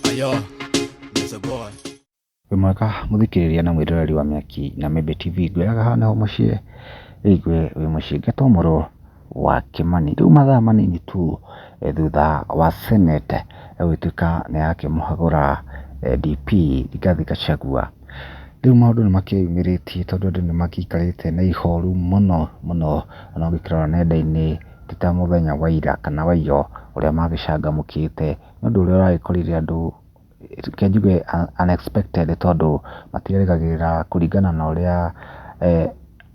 Ayo, Mr. Boy. wĩ mwega mũthikĩrĩria na mwĩroreri wa mĩaki na mĩmbĩ tv ngwĩraga haha nĩho mũciĩ rĩigwe wĩ mũciĩ ngatwamũrwo wa kĩmani rĩu mathaa manini tu eh, thutha wa senate eh, gũgĩtuĩka nĩ yakĩmũhagũra eh, dp rigathi gachagua rĩu maũndũ nĩ makĩyumĩrĩtie tondũ andũ nĩ magĩikarĩte na ihoru mũno mũno ona ũngĩkĩrora nenda-inĩ ti ta mũthenya wa ira kana wa iyo ũrĩa magĩcangamũkĩte nĩ ũndũ ũrĩa ũragĩkorire andũ reke njuge unexpected tondũ matirerĩgagĩrĩra kũringana na ũrĩa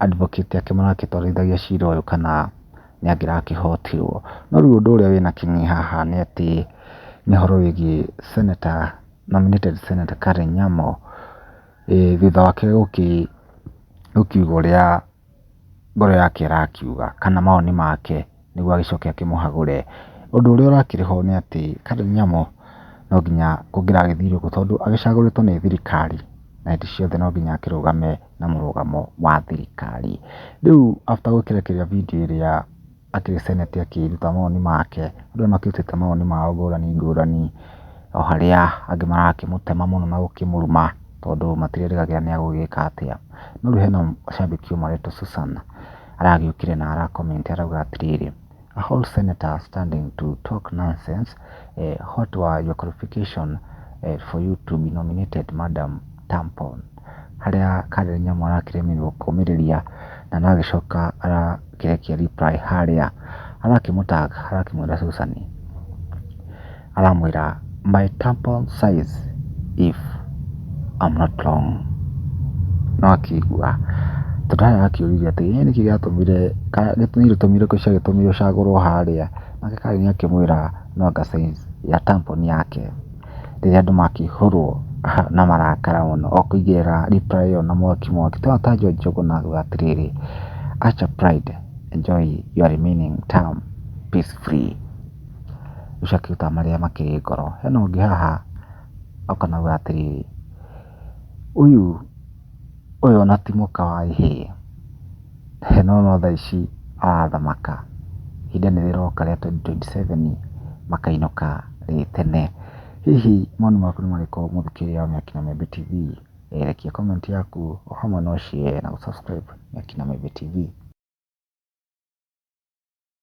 advocate ake maragĩtwarithagia cira ũyũ kana nĩ angĩrakĩhotirwo. No rĩu ũndũ ũrĩa wĩna kĩguni haha nĩ atĩ nĩ ũhoro wĩgiĩ senator nominated senator Karen Nyamu thutha wake gũkiuga ũrĩa... ngoro yake ĩrakiuga kana mawoni make nĩguo agĩcoke akĩmũhagũre. Ũndũ ũrĩa ũrakĩrĩ ho nĩ atĩ Kanyamo no nginya kũngĩragĩthirwo kũ tondũ agĩcagũrĩtwo nĩ thirikari na hĩndĩ ciothe no nginya akĩrũgame na mũrũgamo wa thirikari. Rĩu after gũkĩrekereria video ĩrĩa... atĩ senate akĩruta mawoni make, andũ aya makĩrutĩte mawoni mao ngũrani ngũrani, o harĩa angĩ marakĩmũtema mũno na gũkĩmũruma tondũ matirĩrĩgagĩrĩra nĩ egũgĩka atĩa. No rĩu hena cambĩki ũmwe wĩtwo Susan, aragĩũkire na ara comment arauga atĩrĩrĩ, A whole senator standing to talk nonsense, what were your qualification for you to be nominated madam? tampon, harĩa karĩ nyamũ arakĩremĩrwo kũmĩrĩria na no agĩcoka arakĩrekia reply harĩa arakĩmũ tag arakĩmwĩra Susan, aramwĩra my tampon size if I'm not wrong nĩ wakĩigua, tondũ harĩa arakĩũririe atĩ ĩ nĩkĩ gĩatũmire ũcagũrwo harĩa nake karĩ nĩ akĩmwĩra no anga size ya tampon yake. rĩrĩa andũ makĩihũrwo na marakara mũno o kũigĩrĩra reply ĩyo na mwaki mwaki. Tũrona ta John Njuguna auga atĩrĩrĩ, Ask your pride, enjoy your remaining term peace free. Ũcio akĩruta marĩa makĩrĩ ngoro. Hena ũngĩ haha oka na auga atĩrĩrĩ, ũyũ Ũyũ ona ti mũka wa ihĩĩ. He na ũno thaa ici aratha maka. Ihinda nĩ rĩroka rĩa twenty twenty seven makainũka rĩ tene. Hihi mawoni maku nĩ marĩkũ mũthikĩria wa Mĩaki na Mĩmbi TV? Rekia comment yaku o hamwe na ũ share na gũ subscribe Mĩaki na Mĩmbi TV.